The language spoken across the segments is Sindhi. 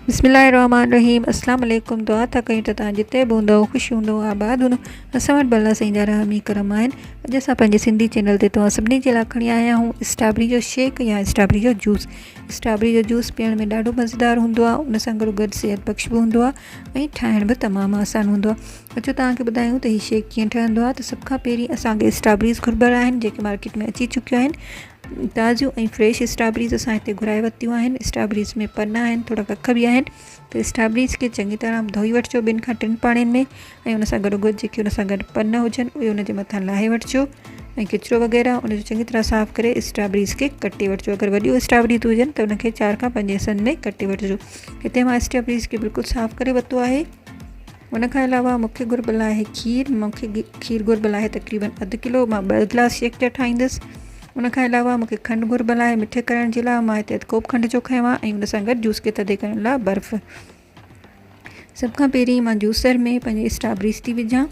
بسم الله الرحمن الرحيم اسلام عليڪم دعا ٿا ڪيون ته تان جتي به هوندو خوش هوندو آباد هوندو اسان وٽ بلا سائين جا رحم ۽ کرم آهن اڄ اسان پنهنجي سنڌي چينل تي توهان سڀني جي لاء کڻي آيا آهيون اسٽابري جو شيڪ يا اسٽابري جو جوس اسٽابري جو جوس پيئڻ ۾ ڏاڍو مزيدار هوندو آهي ان سان گڏ گڏ صحت بخش به هوندو آهي ۽ ٺاهڻ به تمام آسان هوندو آهي اچو توهان کي ٻڌايون ته هي شيڪ ڪيئن ٺهندو آهي ته سڀ کان پهرين اسان کي اسٽرابريز گهربل آهن جيڪي مارڪيٽ ۾ اچي چڪيون آهن تازيون ۽ فريش اسٽرابريز اسان هتي گهرائي ورتيون آهن اسٽرابريز ۾ پن آهن ٿورا ڪک به آهن ته اسٽرابريز کي چڱي طرح ڌوئي وٺجو ٻن کان ٽن پاڻين ۾ ۽ ان سان گڏو گڏ جيڪي ان سان گڏ پن هجن اهي ان جي مٿان لاهي وٺجو ۽ ڪچرو وغيره ان جو چڱي طرح صاف ڪري اسٽرابريز کي ڪٽي وٺجو اگر وڏيون اسٽرابريز هجن ته ان کي چار کان پنج حصن ۾ ڪٽي وٺجو هتي مان اسٽرابريز کي بلڪل صاف ڪري ورتو آهي ان کان علاوه مونکي گهربل آهي کير مونکي کير گهربل آهي تقريبن اڌ ڪلو مان ٻه گلاس شيڪ جا ٺاهيندس ان کان علاوه مونکي کنڊ گهربل آهي مٺي ڪرڻ جي لاء مان هتي اڌ ڪوپ کنڊ جو کنيو آهي ۽ ان سان گڏ جوس کي ٿڌي ڪرڻ لاء برف سڀ کان پهرين مان جوسر ۾ پنهنجي اسٽابريز ٿي وجهان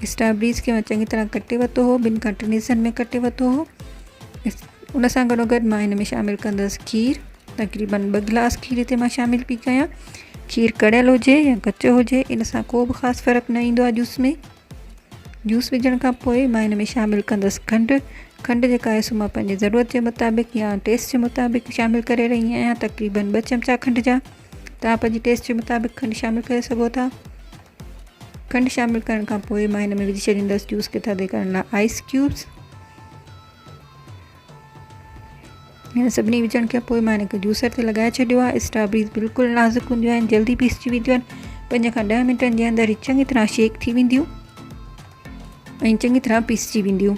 اسٽابريز کي مان چڱي طرح ڪٽي ورتو هو ٻن کان ٽن حصن ۾ ڪٽي ورتو هو ان سان گڏو گڏ مان هن ۾ شامل ڪندس کير تقريبن ٻه گلاس کير هتي مان شامل پي ڪيان کير ڪڙيل هجي يا ڪچو هجي ان سان ڪو به خاص فرق نه ايندو آهي جوس ۾ جوس وجهڻ کان پوء مان ان ۾ شامل ڪندس کنڊ کنڊ جيڪا آهي سو مان پنهنجي ضرورت جي مطابق يا ٽيسٽ جي مطابق شامل ڪري رهي آهيان تقريبن ٻه چمچا کنڊ جا تها پنهنجي ٽيسٽ جي مطابق کنڊ شامل ڪري سگهو ٿا کنڊ شامل ڪرڻ کان پوء مان هن ۾ وجهي ڇڏيندس جوس کي ٿڌي ڪرڻ لاء آئس ڪيوبس هن سڀني وجهڻ کان پوء مان هن کي جوسر تي لڳائي ڇڏيو آهي اسٽرابريز بلڪل نازڪ هونديون آهن جلدي پيسجي وينديون آهن پنج کان ڏهه منٽن جي اندر هي چڱي طرح شيڪ ٿي وينديون ۽ چڱي طرح پيسجي وينديون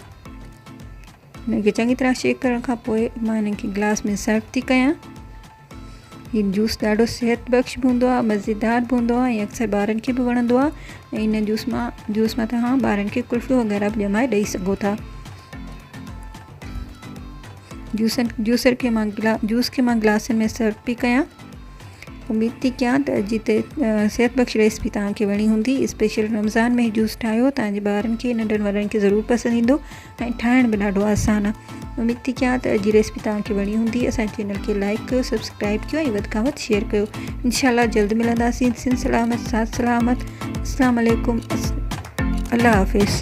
هن کي چڱي طرح شيڪ ڪرڻ کان پوء مان هنن کي گلاس ۾ سرو ٿي ڪيان هي جوس ڏاڍو صحت بخش به هوندو آهي مزيدار به هوندو آهي ۽ اڪثر ٻارن کي به وڻندو آهي ۽ ان جوس مان جوس مان توهان ٻارن کي ڪلفيون وغيره به ڄمائي ڏئي سگهو ٿا جوسن جوسر کي مان گلا جوس کي مان گلاسن ۾ سرو پي ڪيان اميد ٿي ڪيان ته اڄ جتي صحت بخش ريسپي توهان کي وڻي هوندي اسپيشل رمضان ۾ جوس ٺاهيو تانجي ٻارن کي ننڍن وڏن کي ضرور پسند ايندو ۽ ٺاهڻ به ڏاڍو آسان آ اميد ٿي ڪيان ته اڄ جي ريسپي توهان کي وڻي هوندي اسان چينل کي لائڪ ڪيو سبسڪرائب ڪيو ۽ وڌ کان وڌ شيئر ڪيو انشاء الله جلد ملنداسين سن سلامت سات سلامت السلام عليڪم الله حافظ